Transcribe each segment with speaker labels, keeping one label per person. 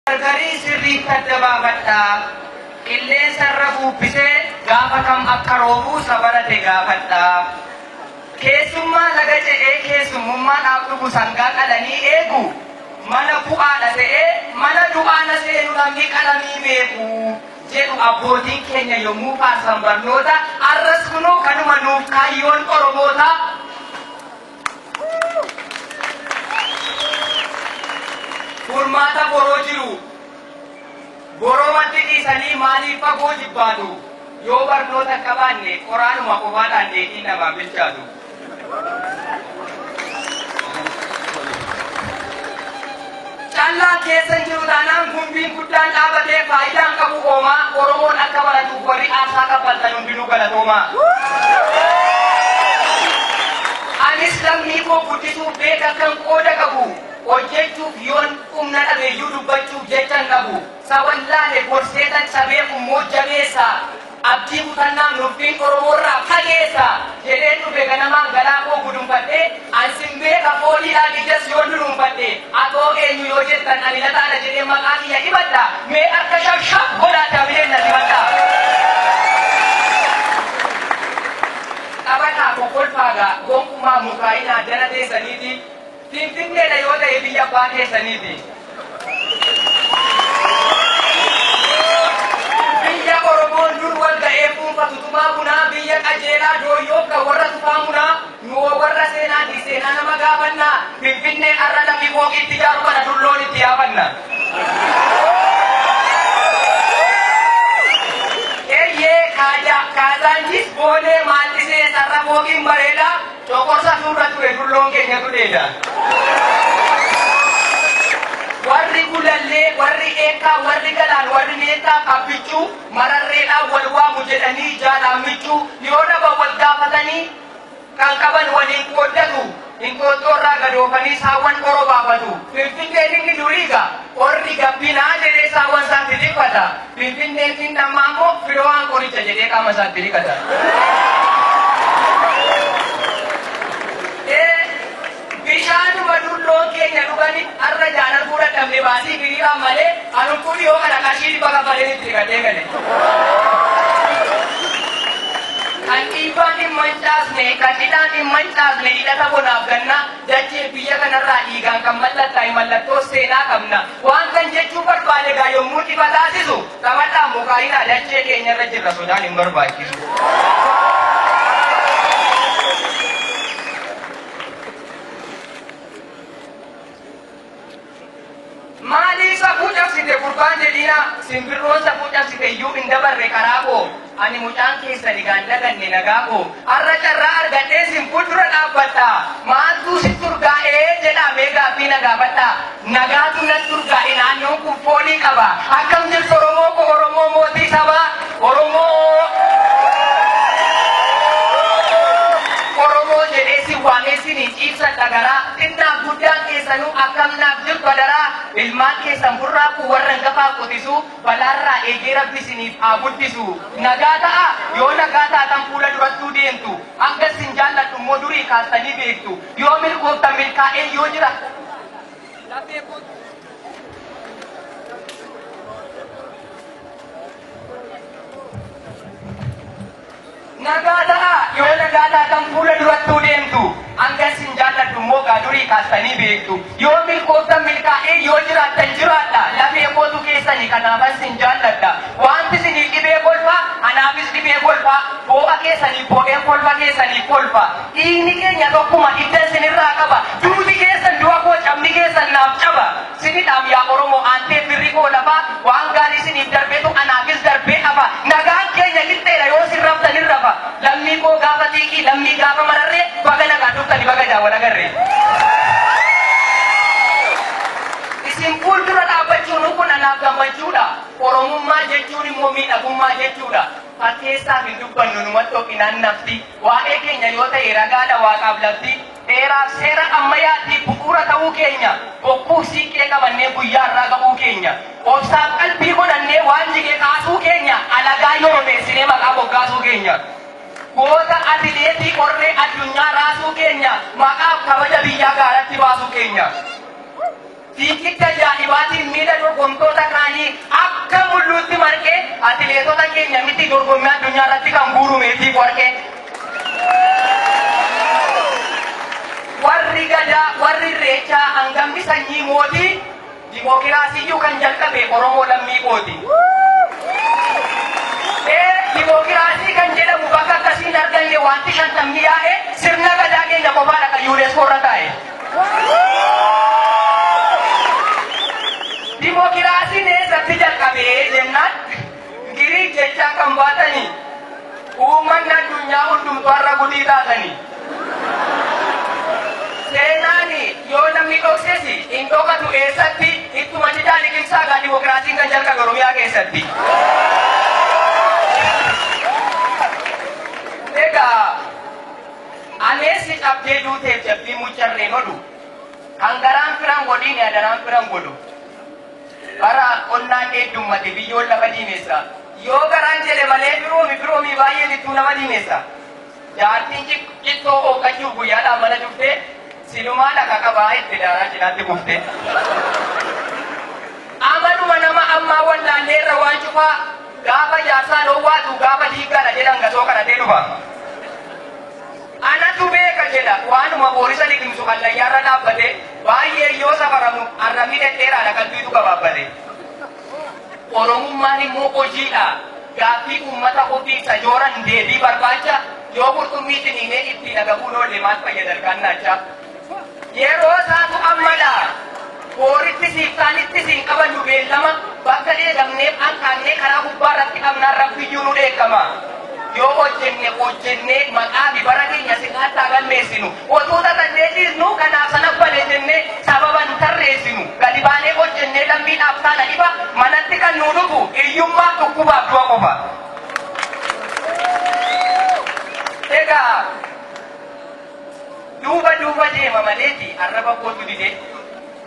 Speaker 1: Gargarii sirriitti adda baafadhaa. Qilleensa irra buubbisee gaafa kam akka roobu isa barate gaafadhaa. Keessummaa laga ce'ee keessummummaadhaaf dhufu sangaa qalanii eegu mala bu'aadha ta'ee mala du'aa na seenu namni qalamii beeku jedhu abbootiin keenya yommuu faarsan barnoota arras kunoo kanuma nuuf kaayyoon Oromootaa. Furmaata boroo jiru boromatti dhiisanii maaliif fagoo jibbaatu? Yoo barnoota hin qabaanne qoraanuma qofaadhaan dheedhiin namaan bilchaatu. Callaan keessa hin jiru taanaan gumbiin guddaan dhaabatee faayidaa hin qabu hoomaa Oromoon akka baratuuf warri aarsaa kaffaltan hundinuu galatoomaa. Anis lammii koo guddisuuf beekakkan qooda qabu hojjechuuf yoon humna dhabeyyuu dubbachuuf jechan dhabu. Sawallaale gorseetan cabee kummoo jabeessa. Abdii kutannaan murtiin Oromoorraa fageessa jedheen dhufe ganamaan garaa koo gudunfadhee an sin beeka foolii laal ijas yoon dunuunfadhe atoo eenyu yoo jettan ani lataadha jedheen maqaa kiyya hibadha mee harka shab shab godhaa dabileen na simadhaa Taphataa kokkolfaagaa gonkumaa mukaa'inaa jala teessaniiti Finfinneedha yoo ta'e biyya abbaa keessaniiti. Biyya Oromoon dur wal ga'ee fuunfatu tumaa bunaa biyya qajeelaa dooyyoof kan warra tufaa munaa nu hoo warra seenaatiif seenaa nama gaafannaa Finfinnee har'a namni fooqii itti ijaaru kana dur loon itti yaafanna. Eyyee Kaazaanchiis Boolee Maandhisee Sarra Fooqiin bareedaa Coqorsa nurra ture dulloon keenya gudeeda. Warri Gulallee, warri Eekkaa, warri Galaan, warri Meettaa, Abbichuu, Mararreedhaan wal waamu jedhanii jaalaan michuu yoo dhaban wal gaafatanii kan qaban waliin qooddatu. Inxooxxoorraa gadoofanii saawwan oro baafatu. Finfinneen inni duriigaa. Qorri gabbinaa jedhee saawwan isaatti dhiphata. Finfinneettiin dhammaa immoo Firoohaan qoricha jedhee qaama isaatti dhiqata. Ee, bishaanuma dulloon keenya dhugani har'a ijaan arguu dadhabne baasii hiriiraan malee an huccuu dhihoo kana qarshii dhibba kaffaleen itti dhiqadhee gale. Kan dhiibbaan hin mancaasne, kan dhidhaan hin mancaasne hidhata bonaaf gannaa. Dachee biyya kanarraa dhiigaan kan mallattaa'e mallattoo seenaa qabna. Waantan jechuu barbaade egaa yommuu ifa taasisu, xamadhaan mukaa'inaa dachee keenyarra jirra sodaan hin barbaachisu. Maalii safuu cabsite gurbaan jedhiinaa simbirroon safuu cabsite iyyuu hin dabarre karaa koo ani mucaan keessan egaa hin dhaganne nagaa koo har'a carraa argadheen sin fuuldura dhaabbadha maaltuu sitti urgaa'ee jedhaa mee gaaffii na gaafadha nagaatu natti urgaa'e naannoon kun foolii qaba akkam jirtu oromoo koo oromoo mootii sabaa Oromoo jedhee sin waamee sin hin ciibsan dhagaraa xinnaaf guddaan keessanuu akkam naaf jirtu adaraa ilmaan keessan burraaquu warra hangafaa qotisuu balaarraa eegee rabbi siniif haa guddisu nagaa ta'a yoo nagaa taatan fuula durattuu deemtu hanga sin jaalladhu immoo durii kaastanii beektu yoo milkooftan milkaa'ee yoo jira Nagaa ta'aa! Yoo nagaa taatan fuula durattuu deemtu. Hanga isin jaalladhu immoo egaa durii kaastanii beektu. Yoo milkooftan milkaa'ee, yoo jiraattan jiraadha. Lafee kootu keessani kanaafan isin jaalladha. Waanti isiniif dhibee kolfa, anaafis dhibee kolfa. Boo'a keessaniif boo'een kolfa keessaniif kolfa. Dhiigni keenya tokkuma, hiddan isinirraa qaba. Duuti keessan du'a koo, cabni keessan naaf caba. Sini dhaam yaa oromoo aantee firri koo lafa waan gaari siniif darbetu anaafis darbee hafa nagaan keenya qixxeedha yoo sin raftan hin rafa lammii koo gaafa xiiqii lammii gaafa mararree baga nagaan dhuftani baga ijaan wal agarree isin fuuldura dhaabbachuunuu kun anaaf gammachuudha oromummaa jechuun immoo miidhagummaa jechuudha fakkeessaaf hin dubbannu numattu ofinaan nafti waa'ee keenya yoo ta'e ragaadha waaqaaf lafti Heeraaf seera ammayaatiif bu'uura ta'uu keenya, bokkuuf siinqee qabannee guyyaa har'aa ga'uu keenya, obsaaf qalbii godhannee waan jige kaasuu keenya, alagaa yoromeessinee maqaa moggaasuu keenya, goota atileetii qorree addunyaa raasuu keenya, maqaaf kabaja biyyaa gaaratti baasuu keenya. Fiigicha ajaa'ibaatiin miila dorgomtoota kaanii akka mulluutti marqe atileetota keenya miti dorgommii addunyaa irratti kan guuru meetii warqee. Warri Gadaa, warri Irreechaa hangamni sanyii mootii dimookiraasiyyuu kan jalqabe Oromoo lammii kooti. Ee dimookiraasii kan jedhamu bakka akkasii hin arganne wanti shantamni yaa'e sirna Gadaa keenya qofaadha kan UNESCO irra taa'e. Dimokiraasiin eessatti jalqabe jennaan Giriik jechaa kan baatanii uummanni addunyaa hundumtu har'a gudii taatanii. Seenaan yoo namni dhokses hin dhokatu eessatti ittuma didaa liqimsaa gaa dimokiraasiin kan jalqabe Oromiyaa keessatti. Egaa Aleessi cabdee duuteef jabbii muccarreen odu Kan garaan firan godhiini adaraan firan godhu Bara qonnaa kee heddummate biyyoon lafa diimessa Yoo garaan jedhe malee firoomi firoomii baay'een ittuu nama diimessa Jaartiin cittoo ooqqachuuf guyyaadhaan mana cuftee Silumaa dhaqa qabaa itti daaraa cinaatti kuftee. Amaluma nama ammaa wallaallee irra waan cufaa gaafa jaarsaan owwaatu gaafa diiggaadha jedhan gasoo kadhatee dhufa. Anatu beeka jedha waanuma boorisa liqimsu hallayyaarra dhaabbate baay'ee yoo safaramu arrabni dhedheeraadha qalbiitu gabaabbate. Oromummaan immoo hojiidha. Gaaffii uummata Kurdii isa jooran deebii barbaacha. Yoo qurxummii ciniinee ittiin agabuun oolle maal fayyada ilkaan naacha? Yeroo isaatu ammadha. Boorittis iftaanittis hin qabannu beellama. Bakka dheedamneef hanqaaqnee karaa gubbaa irratti qabnaan Rabbiyyuu nu dheekkama. Yoo hojjenne hojjennee maqaa fi bara keenya sirnaatti haa galmeessinu. Otuu tatannee dhiisnu kanaaf sana bade jennee sababa hin tarreessinu. Gadi baanee hojjennee lammii dhaaf taana dhiba manatti kan nuu dhufu hiyyummaa, dhukkubaaf du'a qofa. Egaa duuba duuba deema maleeti arraba kootu dide.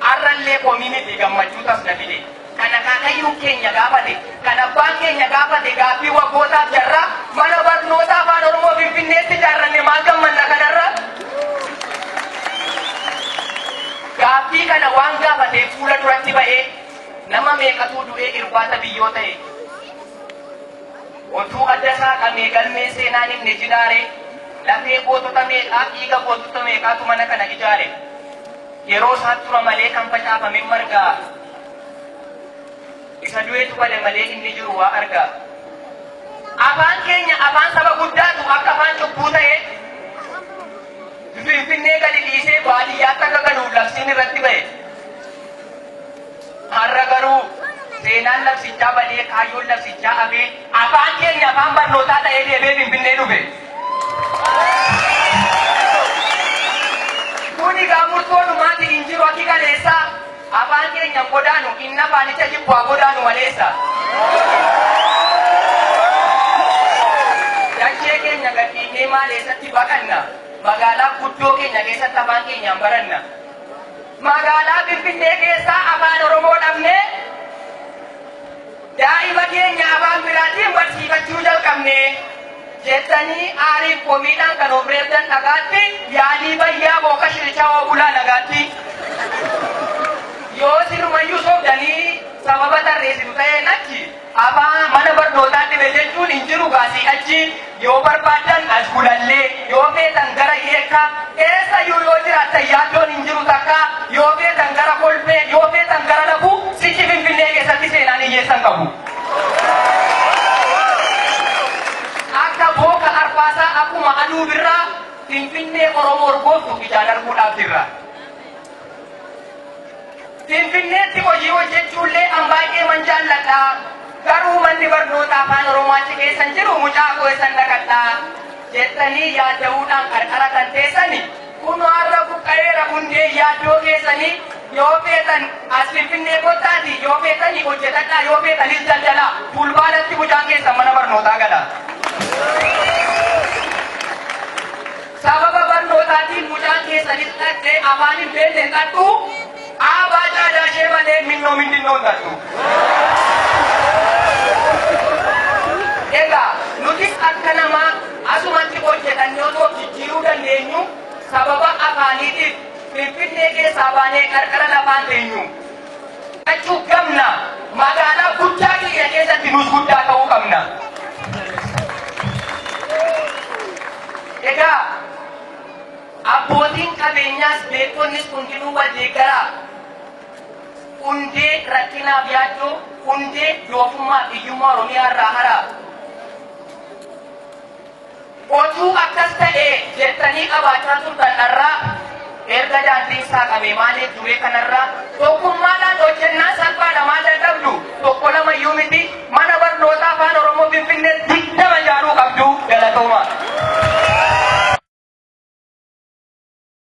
Speaker 1: Arrallee komii miti gammachuu tas na fide. Kan akaakayyuun keenya gaafate, kan abbaan keenya gaafate gaaffii waggootaaf jarraa Mana Barnoota Afaan Oromoo Finfinneetti ijaarranne maal gammanna kanarra? Gaaffii kana waan gaafateef fuula duratti ba'ee nama meeqatuu du'ee irbaata biyyoo ta'e? Otuu adda saaqamee galmeen seenaan himne jiraaree? Lafee gootota meeqaa, dhiiga gootota meeqaatu mana kana ijaare? Yeroo isaa tura malee kan facaafamen margaa Isa du'etu bada malee inni jiru waa argaa Afaan keenya afaan saba guddaatu akka afaan cubbuu ta'ee Finfinnee gadi dhiisee baadiyyaatti akka galuuf labsiin irratti ba'e. Har'a garuu seenaan labsichaa badee kaayyoon labsichaa hafee afaan keenya afaan barnootaa ta'ee deebi'ee Finfinnee dhufe. Kun egaa murtoo dhumaati hin jiru akki kaleessaa afaan keenya hin godaanu inni afaanicha jibbu haa godaanu maleessa. Dachee keenya gadhiifnee maal eessatti baqanna? Magaalaa guddoo keenya keessatti afaan keenyaan baranna. Magaalaa Finfinnee keessaa Afaan Oromoo dhabnee daa'ima keenya afaan biraatiin barsiifachuu jalqabne jettanii aariif komiidhaan kan of reebdan dhagaatti yaalii bayyaa booka shirichawoo bulaa nagaatti. Yoo sirumayyuu sobdanii sababa tarreessitu ta'een achi Abaa mana barnootaa dhibe jechuun hin jiru gaa sii achi yoo barbaaddan as gulallee yoo feetan gara yeekkaa eessayyuu yoo jiraattan yaaddoon hin jiru takka yoo feetan gara kolfee yoo feetan gara lafuu sichi finfinnee keessatti seenaan hiyyeessa hin qabu akka booka arbaasaa akkuma aduu birraa finfinnee oromoo urgooftu ijaan arguudhaaf jirra. Finfinneetti hojii hojjechuullee an baay'eeman jaalladha. Garuu manni barnootaa Afaan Oromoo achi keessa hin jiru mucaa koo eessan dhaqadha? jettanii yaadda'uudhaan qarqara kan teessani kunoo har'a buqqa'eera hundee yaaddoo keessanii yoo feetan as Finfinnee kottaatii yoo feetanii hojjetadhaa yoo feetanis daldalaa fulbaanatti mucaan keessan mana barnootaa gala. Sababa barnootaatiin mucaan keessan hin dhaqxe afaan hin beekne hin dhaqxu aabaa caadaa ishee malee minnoo mindinnoo hin dhaqxu. Egaa nutis akka namaa asumatti hojjetannee osoo of jijjiiruu dandeenyu sababa afaaniitiif finfinnee keessaa baanee qarqara lafaan teenyu. Fudhachuu qabna. Magaalaa guddaa keenya keessatti nuus guddaa ta'uu qabna. Egaa abbootiin qabeenyaas beekonnis hundinuu wal deeggaraa. Hundee rakkinaaf yaaddoo, hundee doofummaa fi hiyyummaa Oromiyaa irraa haraa. Otuu akkas ta'ee jettanii qabaachaa turtan har'aa erga daandiin saaqamee maaliif duree kanarraa tokkummaadhaan hojjennaan salphaadha maal dadhabdu tokko lama iyyuu miti mana barnootaa afaan oromoo finfinnee digdama ijaaruu qabdu galatooma.